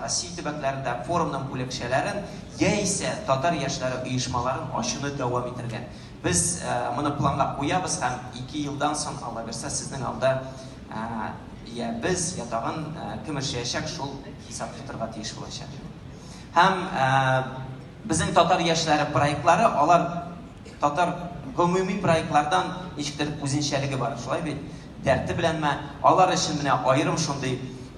Россия төбәкләрендә форумның бүлекчәләрен яисә татар яшьләре оешмаларын ачуны дәвам итәргә. Без моны планлап куябыз һәм ике елдан соң, Алла бирсә, сезнең алда йә без, йә тагын кем эшләячәк, шул хисап тотарга тиеш булачак. Һәм безнең татар яшьләре проектлары, алар татар гомуми проектлардан ничектер үзенчәлеге бар, шулай бит? Дәрте беләнме, алар өчен менә аерым шундый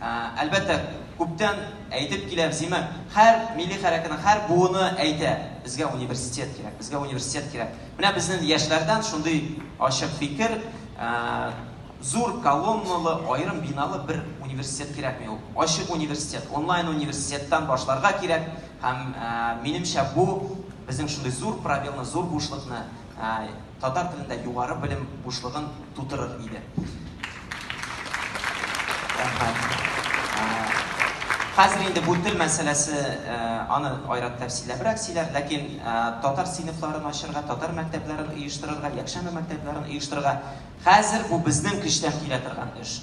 Әлбәттә, күптән әйтеп киләм, Симы, һәр милли хәрәкәтнең һәр буыны әйтә, безгә университет кирәк, безгә университет кирәк. Менә безнең яшьләрдән шундый ачык фикер, зур колонналы, аерым биналы бер университет кирәкми ул. Ачык университет, онлайн университеттан башларга кирәк һәм минемчә бу безнең шундый зур пробелны, зур бушлыкны Татар телендә югары белем бушлыгын тутырыр иде. Рәхмәт. Хәзер инде бу тел мәсьәләсе, аны айрат тәфсилләбрәк сөйләр, ләкин татар сыйныфларын ачырга, татар мәктәпләрен оештырырга, якшәмбе мәктәпләрен оештырырга хәзер бу безнең көчтән килә торган эш.